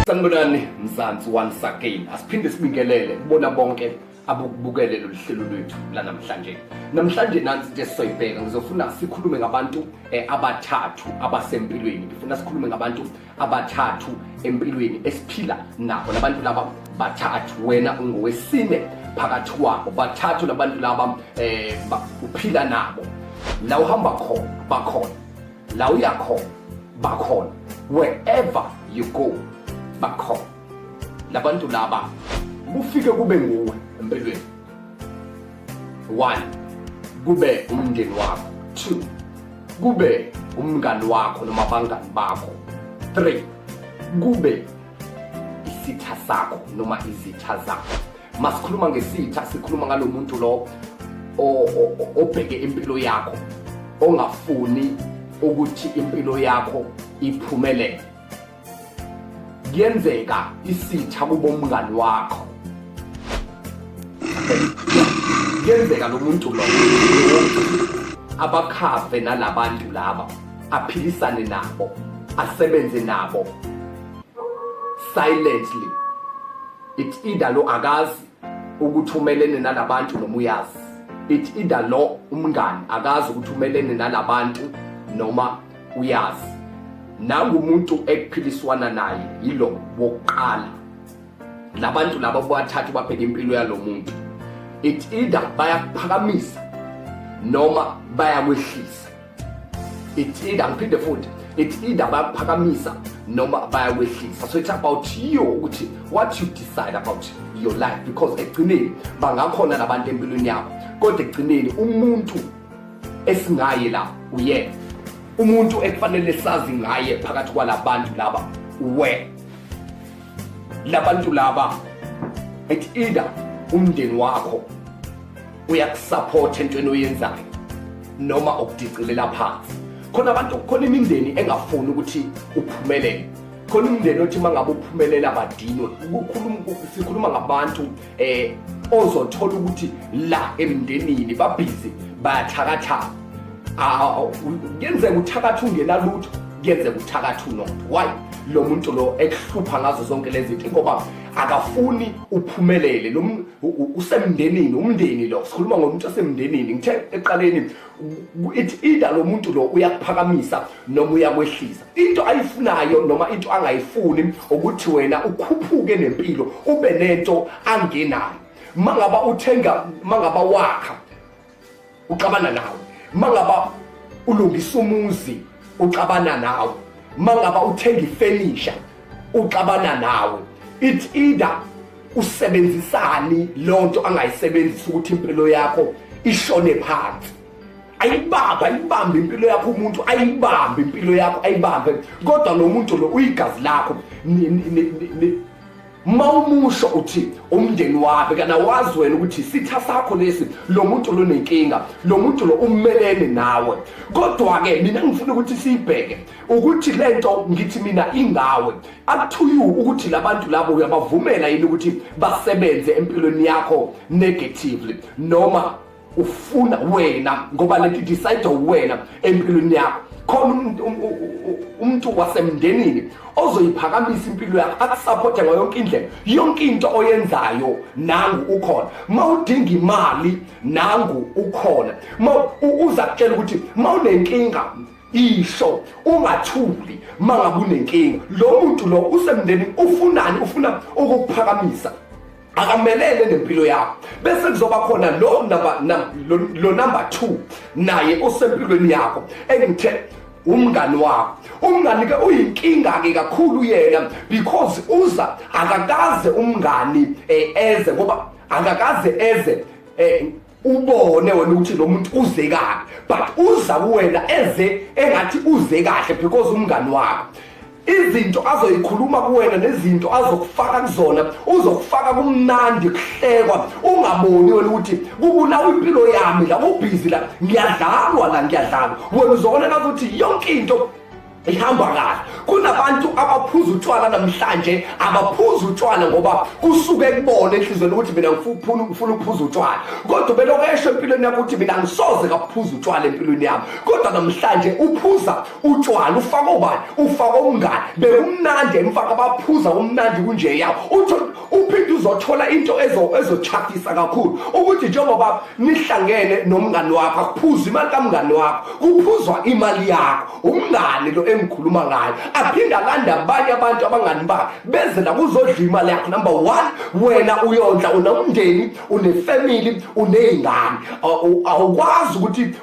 Sanibonani Mzansi once again. Asiphinde sibingelele kubona bonke abukubukele lolu hlelo lwethu lanamhlanje. Namhlanje nansi into esizoyibheka ngizofuna sikhulume ngabantu eh, abathathu abasempilweni. Ngifuna sikhulume ngabantu abathathu empilweni esiphila nabo labantu laba bathathu wena ungowesine phakathi kwabo bathathu labantu laba eh uphila nabo la uhamba khona bakhona la uya khona bakhona wherever you go bakhona labantu laba kufike kube nguwe empilweni one kube umndeni wakho two kube umngani wakho noma abangani bakho three kube isitha sakho noma izitha zakho masikhuluma ngesitha sikhuluma ngalo muntu lo obheke impilo yakho ongafuni ukuthi impilo yakho iphumelele kuyenzeka isitha kubo umngani wakho kuyenzeka lo muntu lo abakhave nalabantu laba aphilisane nabo asebenze nabo silently it either lo akazi ukuthi umelene nalabantu noma uyazi it either lo umngani akazi ukuthi umelene nalabantu noma uyazi nangumuntu ekuphiliswana naye yilo wokuqala labantu laba bathathu babheka impilo yalo muntu it either bayakuphakamisa noma bayakwehlisa it either ngiphinde futhi it either bayakuphakamisa noma bayakwehlisa so it's about you ukuthi what you decide about your life because ekugcineni bangakhona labantu empilweni yakho kodwa ekugcineni umuntu esingaye la uyena umuntu ekufanele sazi ngaye phakathi kwalabantu laba uwe labantu laba it either umndeni wakho uyakusupport entweni oyenzayo noma okudicilela phansi khona abantu khona imindeni engafuni ukuthi uphumelele khona umndeni othi mangabe uphumelela badinwe sikhuluma ngabantu eh ozothola ukuthi la emndenini babhizi bayathakathaka kuyenzeka uthakatha ungenalutho kuyenzeka uthakatha unotho why lo muntu lo ekuhlupha ngazo zonke lezi zinto ngoba akafuni uphumelele lo usemndenini umndeni lo sikhuluma ngomuntu osemndenini ngithe eqaleni it either lo muntu lo uyakuphakamisa noma uyakwehlisa into ayifunayo noma into angayifuni ukuthi wena ukhuphuke nempilo ube nento angenayo mangaba uthenga mangaba wakha uxabana nawe mangaba ulungisa umuzi uxabana nawe mangaba uthenga ifenisha uxabana nawe it either usebenzisani lonto angayisebenzisa ukuthi impilo yakho ishone phansi ayibambe ayibambe impilo yakho umuntu ayibambe impilo yakho ayibambe kodwa lo muntu lo uyigazi lakho ma umusho uthi umndeni wakhe kana wazi wena ukuthi isitha sakho lesi lo muntu lo nenkinga lo muntu lo umelene nawe kodwa-ke mina ngifuna ukuthi siyibheke ukuthi le nto ngithi mina ingawe up to you ukuthi labantu labo uyabavumela yini ukuthi basebenze empilweni yakho negatively noma ufuna wena ngoba lento idecide wena empilweni yakho khona umuntu wasemndenini ozoyiphakamisa impilo yakho akusupporte ngayo yonke indlela yonke into oyenzayo nangu ukhona uma udinga imali nangu ukhona uma uza kutshela ukuthi uma unenkinga isho ungathuli uma ngabe unenkinga lo muntu lo usemndenini ufunani ufuna ukukuphakamisa akamelele nempilo yakho bese kuzoba khona lo number lo number 2 naye osempilweni yakho engithe umngani wakho umngani ke uyinkinga ke kakhulu yena because uza akakaze umngani eh, eze ngoba akakaze eze eh, ubone wena ukuthi lo muntu uze kabi but uza kuwena eze engathi uze kahle because umngani wakho izinto azoyikhuluma kuwena nezinto azokufaka kuzona uzokufaka kumnandi kuhlekwa ungaboni wena ukuthi kubulawa impilo yami la ubhizi la ngiyadlalwa la ngiyadlalwa wena uzobona ngathi yonke into ihamba kahle kunabantu abaphuza utshwala namhlanje abaphuza utshwala ngoba kusuke kubona enhlizweni ukuthi mina ngifuna ngifuna ukuphuza utshwala kodwa beloko esho empilweni yakho ukuthi mina ngisoze kaphuza utshwala empilweni yami kodwa namhlanje uphuza utshwala ufaka obani ufaka umngane bekumnandi emfaka baphuza umnandi kunje yawo utho uphinde uzothola into ezo ezochakisa kakhulu ukuthi njengoba nihlangene nomngane wakho akuphuzi imali kamngane wakho kuphuzwa imali yakho umngani lo engikhuluma ngayo aphinde alande abanye abantu abangani bakhe beze la kuzodla imali yakho number one wena uyondla unomndeni unefamily uney'ngane awukwazi ukuthi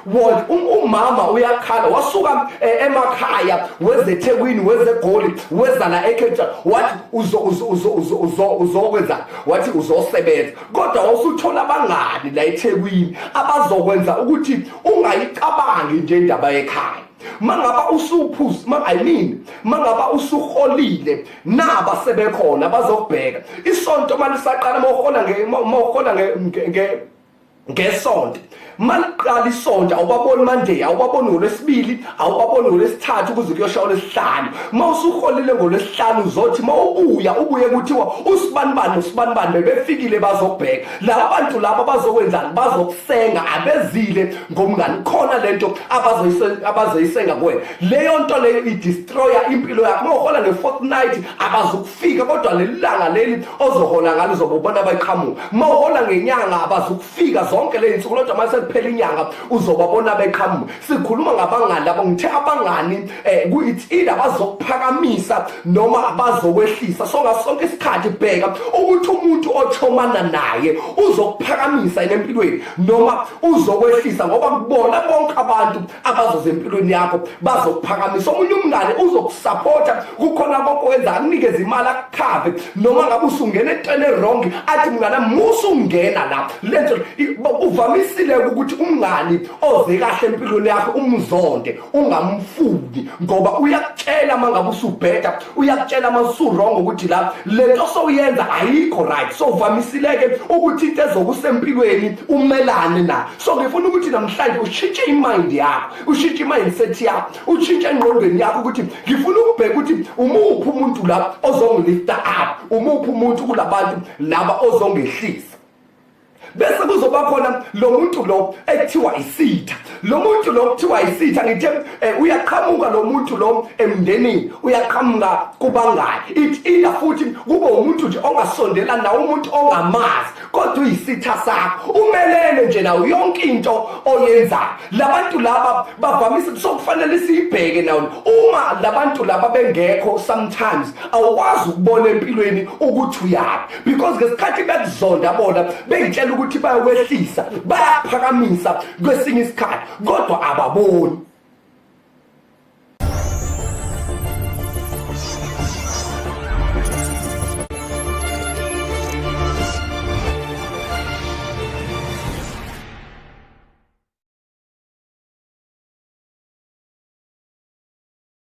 um, umama uyakhala wasuka eh, emakhaya wezethekwini wezegoli weza la ekhetsha wathi uzokwenza wathi uzosebenza kodwa wawusuthola abangani la ethekwini abazokwenza ukuthi ungayicabangi nje indaba yekhaya mangaba usuphuzi ma i mean mangaba usuholile naba sebekhona bazokubheka isonto malisaqala mawuhola nge mawuhola nge ngesonto maliqala isonto awubaboni monday awubaboni ngolwesibili awubaboni ngolwesithathu kuze kuyosha olwesihlanu uma usuholile ngolwesihlanu uzothi uma ubuya ubuye kuthiwa usibanibani usibanibani bebefikile bazobheka laba bantu laba bazokwenzani bazokusenga abezile ngomngani khona lento abazoyisenga kuwena leyo nto leyo idestroya impilo yakho uma uhola nge-fortnight abazukufika kodwa leli langa leli ozohola ngalo uzobobona bayqhamuka uma uhola ngenyanga abazukufika zonke le zinsuku lodwa uma sekuphela inyanga uzobabona beqhamuka sikhuluma ngabangani labo ngithe abangani um eh, kuyithi ila bazokuphakamisa noma abazokwehlisa so ngaso sonke isikhathi bheka ukuthi umuntu ochomana naye uzokuphakamisa yena empilweni noma uzokwehlisa ngoba kubona bonke abantu abazoza empilweni yakho bazokuphakamisa omunye umngane uzokusapota kukhona konke wenza akunikeza imali akukhave noma ngabe usungena etweni erongi athi mngana musa ungena la lento uvamisile ukuthi umngani oze kahle empilweni yakho umzonde ungamfuni ngoba uyakutshela mangabe usubheda uyakutshela masurongo ukuthi la lento sowuyenza ayikho right so uvamisileke ukuthi into ezokusempilweni umelane na so ngifuna ukuthi namhlanje ushintshe imind yakho ushintshe imindset yakho ushintshe engqondweni yakho ukuthi ngifuna ukubheka ukuthi umuphi umuntu la ozongilifta up umuphi umuntu kulabantu laba ozongehlisa bese kuzoba khona lo muntu lo ekuthiwa isitha lo muntu lo kuthiwa isitha ngithe eh, uyaqhamuka lo muntu lo emndenini uyaqhamuka kubangani it either futhi kube umuntu nje ongasondela nawo umuntu ongamazi kodwa uyisitha sakho umelele nje nawo yonke into oyenzayo labantu laba bavamise kusokufanele siyibheke nawo uma labantu laba bengekho sometimes awukwazi ukubona empilweni ukuthi uyaphi because ngesikhathi bekuzonda bona bengitshela ukuthi bayakwehlisa bayaphakamisa kwesinye isikhathi kodwa ababoni